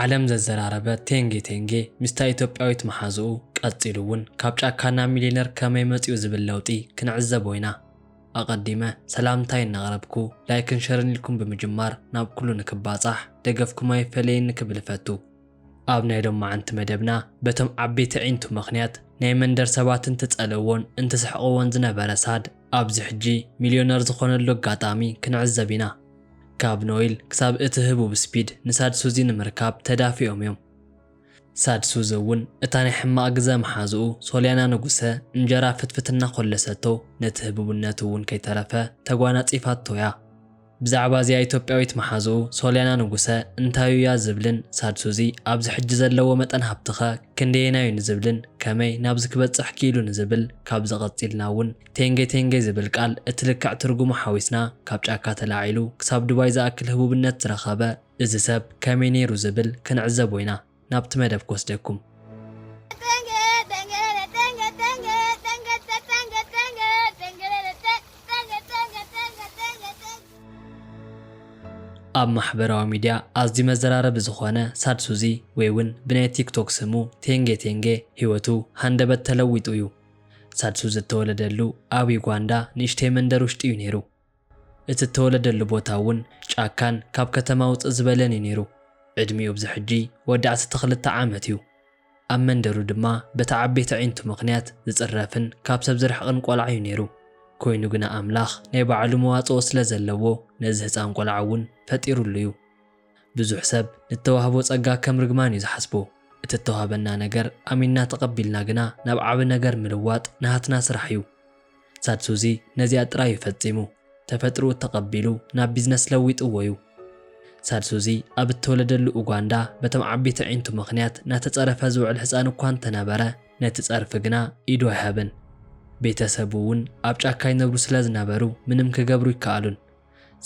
ዓለም ዘዘራረበ ቴንጌ ቴንጌ ምስታ ኢትዮጵያዊት መሓዝኡ ቀጺሉ እውን ካብ ጫካ ናብ ሚሊዮነር ከመይ መጺኡ ዝብል ለውጢ ክንዕዘብ ኢና። ኣቐዲመ ሰላምታይ እናቕረብኩ ላይክን ሸርን ኢልኩም ብምጅማር ናብ ኩሉ ንክባጻሕ ደገፍኩም ኣይፈለየኒ ክብል እፈቱ። ኣብ ናይ ሎማዓንቲ መደብና በቶም ዓበይቲ ኣዒንቱ ምኽንያት ናይ መንደር ሰባት እንትጸለዎን እንትስሕቕዎን ዝነበረ ሳድ ኣብዚ ሕጂ ሚልዮነር ዝኾነሉ ኣጋጣሚ ክንዕዘብ ኢና። ካብ ኖይል ክሳብ እቲ ህቡብ ስፒድ ንሳድ ሱዚ ንምርካብ ተዳፊኦም እዮም። ሳድ ሱዚ እውን እታ ናይ ሕማቕ ግዘ መሓዝኡ ሶልያና ንጉሰ እንጀራ ፍትፍት እናኾለሰቶ ነቲ ህቡብነቱ እውን ከይተረፈ ተጓናጺፋቶ እያ። ብዛዕባ እዚኣ ኢትዮጵያዊት መሓዝኡ ሶልያና ንጉሰ እንታዩ እያ ዝብልን ሳድሱዚ ኣብዚ ሕጂ ዘለዎ መጠን ሃብቲኸ ክንደየናዩ ንዝብልን ከመይ ናብዚ ክበጽሕ ክኢሉ ንዝብል ካብዚ ቀጺልና እውን ቴንጌ ቴንጌ ዝብል ቃል እቲ ልክዕ ትርጉሙ ሓዊስና ካብ ጫካ ተላዒሉ ክሳብ ዱባይ ዝኣክል ህቡብነት ዝረኸበ እዚ ሰብ ከመይ ነይሩ ዝብል ክንዕዘቦ ኢና። ናብቲ መደብ ክወስደኩም። ኣብ ማሕበራዊ ሚድያ ኣዝዩ መዘራረቢ ዝኾነ ሳድ ሱዚ ወይ እውን ብናይ ቲክቶክ ስሙ ቴንጌ ቴንጌ ህይወቱ ሃንደበት ተለዊጡ እዩ። ሳድ ሱዚ እተወለደሉ ኣብ ዩጋንዳ ንእሽተይ መንደር ውሽጢ እዩ ነይሩ። እቲ እተወለደሉ ቦታ እውን ጫካን ካብ ከተማ ውጽእ ዝበለን እዩ ነይሩ። ዕድሚኡ ኣብዚ ሕጂ ወዲ ዓሰርተ ክልተ ዓመት እዩ። ኣብ መንደሩ ድማ በቲ ዓበይቲ ኣዒንቱ ምኽንያት ዝጽረፍን ካብ ሰብ ዝርሕቕን ቆልዓ እዩ ነይሩ። ኰይኑ ግና ኣምላኽ ናይ ባዕሉ መዋጽኦ ስለ ዘለዎ ነዚ ህጻን ቆልዓ እውን ፈጢሩሉ እዩ። ብዙሕ ሰብ ንተዋህቦ ጸጋ ከም ርግማን እዩ ዝሓስቦ። እቲ እተዋህበና ነገር ኣሚንና ተቐቢልና ግና ናብ ዓቢ ነገር ምልዋጥ ናሃትና ስራሕ እዩ። ቻድ ሱዚ ነዚኣ ጥራይ እዩ ፈጺሙ። ተፈጥርኡ ተቐቢሉ ናብ ቢዝነስ ለዊጥዎ እዩ። ቻድ ሱዚ ኣብ እተወለደሉ ኡጓንዳ በቶም ዓቢይቲ ኣዒንቱ ምኽንያት ናተጸረፈ ዝውዕል ህጻን እኳ እንተነበረ ነቲ ጸርፊ ግና ኢዱ ኣይሃበን። ቤተ ሰቡ እውን ኣብ ጫካ ይነብሩ ስለ ዝነበሩ ምንም ክገብሩ ኣይከኣሉን።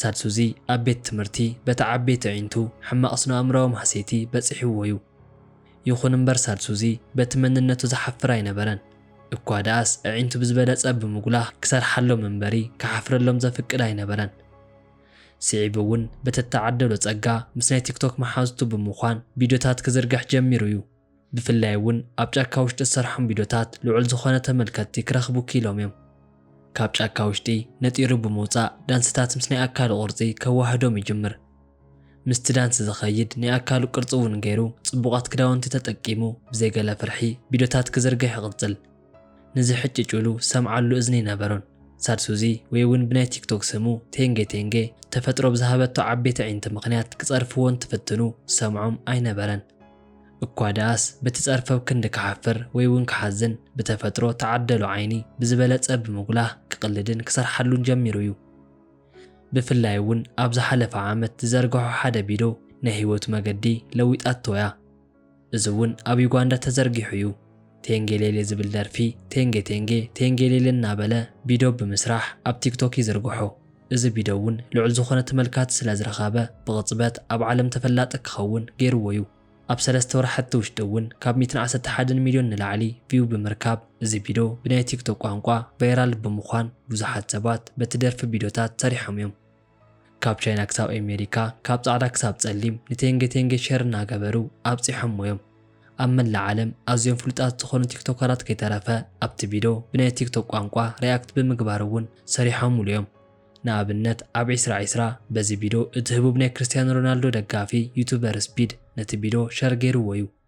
ሳድሱዚ ኣብ ቤት ትምህርቲ በቲ ዓበይቲ ኣዒንቱ ሕማቕ ስነኣእምሮኣዊ ማህሰይቲ በጺሕዎ'ዩ። ይኹን እምበር ሳድሱዚ በቲ መንነቱ ዝሓፍር ኣይነበረን። እኳ ደኣስ ኣዒንቱ ብዝበለጸ ብምጉላህ ክሰርሓሎም እምበሪ ክሓፍረሎም ዘፍቅድ ኣይነበረን። ስዒቡ'ውን ብተተዓደሎ ጸጋ ምስ ናይ ቲክቶክ መሓዙቱ ብምዃን ቪድዮታት ክዝርግሕ ጀሚሩ'ዩ። ብፍላይ እውን ኣብ ጫካ ውሽጢ ዝሰርሖም ቪድዮታት ልዑል ዝኾነ ተመልከትቲ ክረኽቡ ክኢሎም እዮም። ካብ ጫካ ውሽጢ ነጢሩ ብምውፃእ ዳንስታት ምስ ናይ ኣካሉ ቅርፂ ከዋህዶም ይጅምር። ምስቲ ዳንስ ዝኸይድ ናይ ኣካሉ ቅርፂ እውን ገይሩ ፅቡቓት ክዳውንቲ ተጠቂሙ ብዘይ ገለ ፍርሒ ቪድዮታት ክዝርግሕ ይቕፅል። ንዝሕጭጭሉ ዝሰምዓሉ እዝኒ ኣይነበሮን። ሳድ ሱዚ ወይ እውን ብናይ ቲክቶክ ስሙ ቴንጌ ቴንጌ ተፈጥሮ ብዝሃበቶ ዓበይቲ ኣዒንቲ ምኽንያት ክፀርፍዎ እንትፍትኑ ዝሰምዖም ኣይነበረን። እኳ ደኣስ በቲ ጸርፈብ ክንዲ ክሓፍር ወይ እውን ክሓዝን ብተፈጥሮ ተዓደሎ ዓይኒ ብዝበለጸ ብምጉላህ ክቕልድን ክሰርሓሉን ጀሚሩ እዩ። ብፍላይ እውን ኣብ ዝሓለፈ ዓመት ዝዘርገሖ ሓደ ቢዶ ናይ ህይወቱ መገዲ ለዊጣቶ እያ። እዚ እውን ኣብ ዩጋንዳ ተዘርጊሑ እዩ። ቴንጌሌሌ ዝብል ደርፊ ቴንጌ ቴንጌ ቴንጌሌሌ እናበለ ቢዶ ብምስራሕ ኣብ ቲክቶክ ይዝርግሖ። እዚ ቢዶ እውን ልዑል ዝኾነ ተመልካቲ ስለዝረኸበ ብቕፅበት ኣብ ዓለም ተፈላጢ ክኸውን ገይርዎ ዩ። ኣብ ሰለስተ ወርሓቲ ውሽጢ እውን ካብ ሚእትን ዓሰርተ ሓደን ሚልዮን ንላዕሊ ቪው ብምርካብ እዚ ቢዶ ብናይ ቲክቶክ ቋንቋ ቫይራል ብምዃን ብዙሓት ሰባት በቲ ደርፊ ቢዶታት ሰሪሖም ዮም። ካብ ቻይና ክሳብ ኤሜሪካ ካብ ጻዕዳ ክሳብ ጸሊም ንቴንጌ ቴንጌ ሼር እናገበሩ ኣብጺሖሞ እዮም። ኣብ መላእ ዓለም ኣዝዮም ፍሉጣት ዝኾኑ ቲክቶከራት ከይተረፈ ኣብቲ ቪዶ ብናይ ቲክቶክ ቋንቋ ሪኣክት ብምግባር እውን ሰሪሖምሉ እዮም። ንኣብነት ኣብ ዒስራ ዒስራ በዚ ቪዶ እቲ ህቡብ ናይ ክርስትያኖ ሮናልዶ ደጋፊ ዩቱበር ስፒድ ነቲ ቪዶ ሸር ገይርዎ እዩ።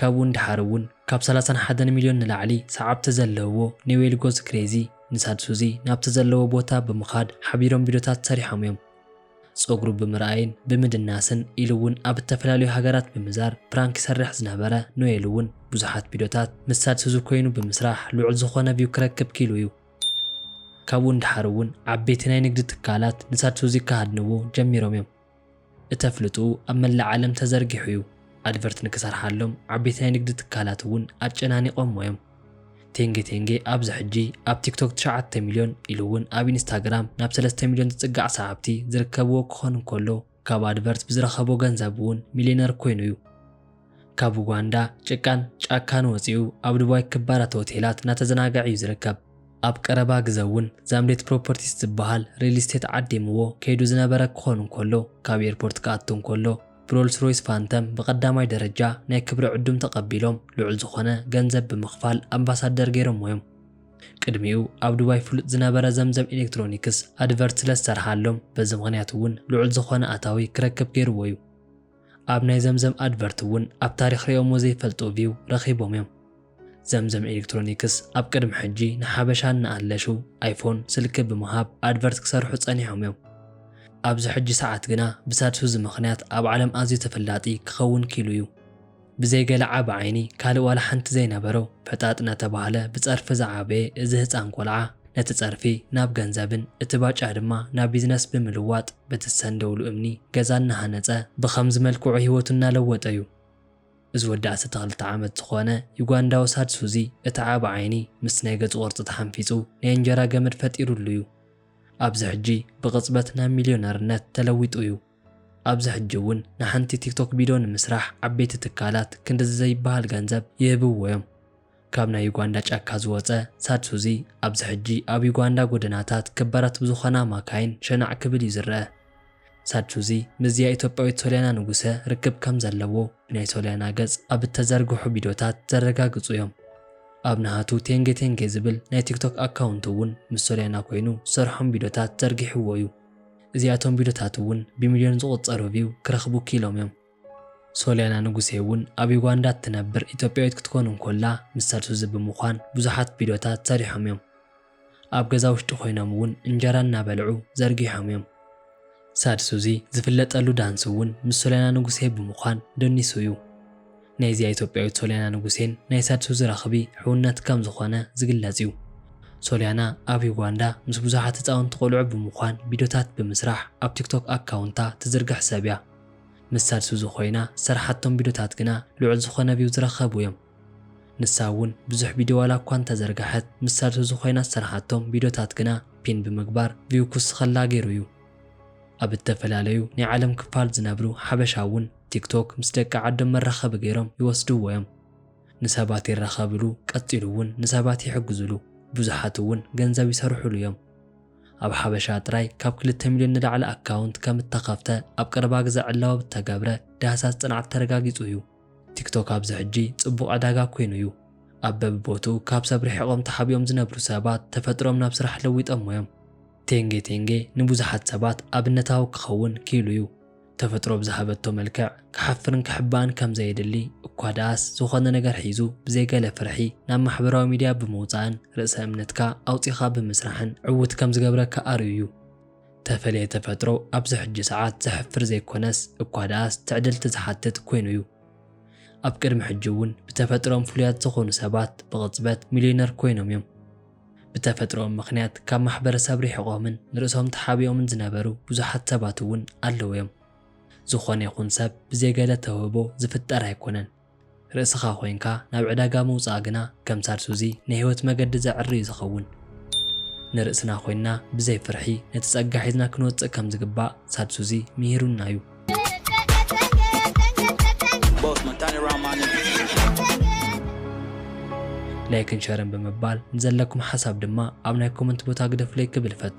ካብኡ ንደሓር እውን ካብ ሰላሳን ሓደን ሚልዮን ንላዕሊ ሰዓብቲ ዘለውዎ ኔዌል ጎዝ ክሬዚ ንሳድ ሱዚ ናብቲ ዘለዎ ቦታ ብምኻድ ሓቢሮም ቪድዮታት ሰሪሖም እዮም። ጸጉሩ ብምርኣይን ብምድናስን ኢሉ እውን ኣብ እተፈላለዩ ሃገራት ብምዛር ፕራንክ ይሰርሕ ዝነበረ ኖኤል እውን ብዙሓት ቪድዮታት ምስ ሳድ ሱዚ ኮይኑ ብምስራሕ ልዑል ዝኾነ ቪው ክረክብ ክኢሉ እዩ። ካብኡ ንደሓር እውን ዓበይቲ ናይ ንግዲ ትካላት ንሳድ ሱዚ ክሃድንዎ ጀሚሮም እዮም። እተፍልጡ ኣብ መላእ ዓለም ተዘርጊሑ እዩ። ኣድቨርት ንክሰርሓሎም ዓበይቲ ናይ ንግዲ ትካላት እውን ኣጨናኒቆሞ እዮም። ቴንጌ ቴንጌ ኣብዚ ሕጂ ኣብ ቲክቶክ ትሽዓተ ሚልዮን ኢሉ እውን ኣብ ኢንስታግራም ናብ ሰለስተ ሚልዮን ዝፅጋዕ ሰዓብቲ ዝርከብዎ ክኾን እንከሎ ካብ ኣድቨርት ብዝረኸቦ ገንዘብ እውን ሚልየነር ኮይኑ እዩ። ካብ ኡጋንዳ ጭቃን ጫካን ወጺኡ ኣብ ዱባይ ክባራት ሆቴላት እናተዘናገዐ እዩ ዝርከብ። ኣብ ቀረባ ግዘ እውን ዛምሌት ፕሮፐርቲስ ዝበሃል ሪል ስቴት ዓዲምዎ ከይዱ ዝነበረ ክኾን እንከሎ ካብ ኤርፖርት ክኣቱ እንከሎ ብሮልስ ሮይስ ፋንተም ብቐዳማይ ደረጃ ናይ ክብሪ ዕዱም ተቐቢሎም ልዑል ዝኾነ ገንዘብ ብምኽፋል ኣምባሳደር ገይሮሞ እዮም። ቅድሚኡ ኣብ ዱባይ ፍሉጥ ዝነበረ ዘምዘም ኤሌክትሮኒክስ ኣድቨርት ስለዝሰርሓሎም በዚ ምኽንያት እውን ልዑል ዝኾነ ኣታዊ ክረክብ ገይርዎ እዩ። ኣብ ናይ ዘምዘም ኣድቨርት እውን ኣብ ታሪኽ ሪኦሞ ዘይፈልጡ ቪው ረኺቦም እዮም። ዘምዘም ኤሌክትሮኒክስ ኣብ ቅድሚ ሕጂ ንሓበሻ እናኣለሹ ኣይፎን ስልኪ ብምሃብ ኣድቨርት ክሰርሑ ጸኒሖም እዮም። ኣብዚ ሕጂ ሰዓት ግና ብሳድሱዚ ምኽንያት ኣብ ዓለም ኣዝዩ ተፈላጢ ክኸውን ኪሉ እዩ። ብዘይ ገለ ዓቢ ዓይኒ ካልእ ዋላ ሓንቲ ዘይነበሮ ፈጣጥ ናተባህለ ብጸርፊ ዝዓበየ እዚ ህጻን ቆልዓ ነቲ ጸርፊ ናብ ገንዘብን እቲ ባጫ ድማ ናብ ቢዝነስ ብምልዋጥ በቲ ዝሰንደውሉ እምኒ ገዛ እናሃነጸ ብኸምዚ መልክዑ ሂወቱ እናለወጠ ዩ። እዚ ወዲ ዓሰርተ ክልተ ዓመት ዝኾነ ዩጋንዳዊ ሳድ ሱዚ እቲ ዓቢ ዓይኒ ምስቲ ናይ ገጹ ቅርጺ ተሓንፊጹ ናይ እንጀራ ገመድ ፈጢርሉ ዩ። ኣብዚ ሕጂ ብቕጽበት ናብ ሚልዮነርነት ተለዊጡ ዩ። ኣብዚ ሕጂ እውን ንሓንቲ ቲክቶክ ቢዶ ንምስራሕ ዓበይቲ ትካላት ክንድዚ ዘይበሃል ገንዘብ ይህብዎ እዮም። ካብ ናይ ዩጋንዳ ጫካ ዝወጸ ሳድ ሱዚ ኣብዚ ሕጂ ኣብ ዩጋንዳ ጎደናታት ክባራት ብዝኾና ማካይን ሸናዕ ክብል እዩ ዝረኣ። ሳድ ሱዚ ምስዚኣ ኢትዮጵያዊት ሶልያና ንጉሰ ርክብ ከም ዘለዎ ብናይ ሶልያና ገጽ ኣብ እተዘርግሑ ቢዶታት ዘረጋግጹ እዮም። ኣብ ናሃቱ ቴንጌ ቴንጌ ዝብል ናይ ቲክቶክ ኣካውንቱ እውን ምስ ሶልያና ኮይኑ ዝሰርሖም ቢዶታት ዘርጊሕዎ እዩ። እዚኣቶም ቪዶታት ውን ብሚልዮን ዝቁጸሩ ቪው ክረኽቡ ኪኢሎም ዮም። ሶልያና ንጉሴ ውን ኣብ ዩጋንዳ እትነብር ኢትዮጵያዊት ክትኮን እንኮላ ምስ ሰልሱዚ ብምዃን ብዙሓት ቪዶታት ሰሪሖም ዮም። ኣብ ገዛ ውሽጢ ኮይኖም ውን እንጀራ እናበልዑ ዘርጊሖም ዮም። ሳልሱዚ ዝፍለጠሉ ዳንስ ውን ምስ ሶልያና ንጉሴ ብምዃን ደኒሱ ዩ። ናይዚኣ ኢትዮጵያዊት ሶልያና ንጉሴን ናይ ሳድሱዚ ራኽቢ ሕውነት ከም ዝኾነ ዝግለጽ እዩ። ሶልያና ኣብ ዩጋንዳ ምስ ብዙሓት ህጻውንቲ ቆልዑ ብምዃን ቪድዮታት ብምስራሕ ኣብ ቲክቶክ ኣካውንታ ትዝርግሕ ሰብ እያ። ምስ ሳድሱዚ ኮይና ዝሰርሓቶም ቪድዮታት ግና ልዑል ዝኾነ ቪው ዝረኸቡ እዮም። ንሳ እውን ብዙሕ ቪድዮ ዋላ እኳ እንተዘርገሐት ምስ ሳድሱዚ ኮይና ዝሰርሓቶም ቪድዮታት ግና ፒን ብምግባር ቪው ክውስኸላ ገይሩ እዩ። ኣብ እተፈላለዩ ናይ ዓለም ክፋል ዝነብሩ ሓበሻ እውን ቲክቶክ ምስ ደቂ ዓዶም መራኸቢ ገይሮም ይወስድዎ እዮም። ንሰባት ይራኸብሉ፣ ቀጺሉ እውን ንሰባት ይሕግዙሉ፣ ብዙሓት እውን ገንዘብ ይሰርሑሉ እዮም። ኣብ ሓበሻ ጥራይ ካብ ክልተ ሚልዮን ንላዕሊ ኣካውንት ከም እተኸፍተ ኣብ ቀረባ ግዘ ዕላዊ ኣብ እተገብረ ዳህሳስ ጽንዓት ተረጋጊጹ እዩ። ቲክቶክ ኣብዚ ሕጂ ጽቡቕ ዕዳጋ ኰይኑ እዩ። ኣብ በብቦትኡ ካብ ሰብ ርሒቖም ተሓቢኦም ዝነብሩ ሰባት ተፈጥሮኦም ናብ ስራሕ ለዊጦሞ እዮም። ቴንጌ ቴንጌ ንብዙሓት ሰባት ኣብነታዊ ክኸውን ክኢሉ እዩ። ተፈጥሮ ብዝሃበቶ መልክዕ ክሓፍርን ክሕባእን ከም ዘየድሊ እኳ ደኣስ ዝኾነ ነገር ሒዙ ብዘይ ገለ ፍርሒ ናብ ማሕበራዊ ሚድያ ብምውጻእን ርእሰ እምነትካ ኣውጺኻ ብምስራሕን ዕዉት ከም ዝገብረካ ኣርእዩ እዩ። ተፈልየ ተፈጥሮ ኣብዚ ሕጂ ሰዓት ዘሕፍር ዘይኮነስ እኳ ደኣስ ትዕድልቲ ዝሓትት ኮይኑ እዩ። ኣብ ቅድሚ ሕጂ እውን ብተፈጥሮኦም ፍሉያት ዝኾኑ ሰባት ብቕጽበት ሚልዮነር ኮይኖም እዮም። ብተፈጥሮኦም ምኽንያት ካብ ማሕበረሰብ ርሒቖምን ንርእሶም ተሓቢኦምን ዝነበሩ ብዙሓት ሰባት እውን ኣለዉ እዮም። ዝኾነ ይኹን ሰብ ብዘይ ገለ ተውህቦ ዝፍጠር ኣይኮነን። ርእስኻ ኮይንካ ናብ ዕዳጋ ምውጻእ ግና ከም ሳልሱዚ ናይ ህይወት መገዲ ዘዕሪ እዩ ዝኸውን። ንርእስና ኮይንና ብዘይ ፍርሒ ነቲ ጸጋ ሒዝና ክንወጽእ ከም ዝግባእ ሳልሱዚ ምሂሩና እዩ። ላይክን ሸርን ብምባል ንዘለኩም ሓሳብ ድማ ኣብ ናይ ኮመንት ቦታ ግደፉለይ ክብል እፈቱ።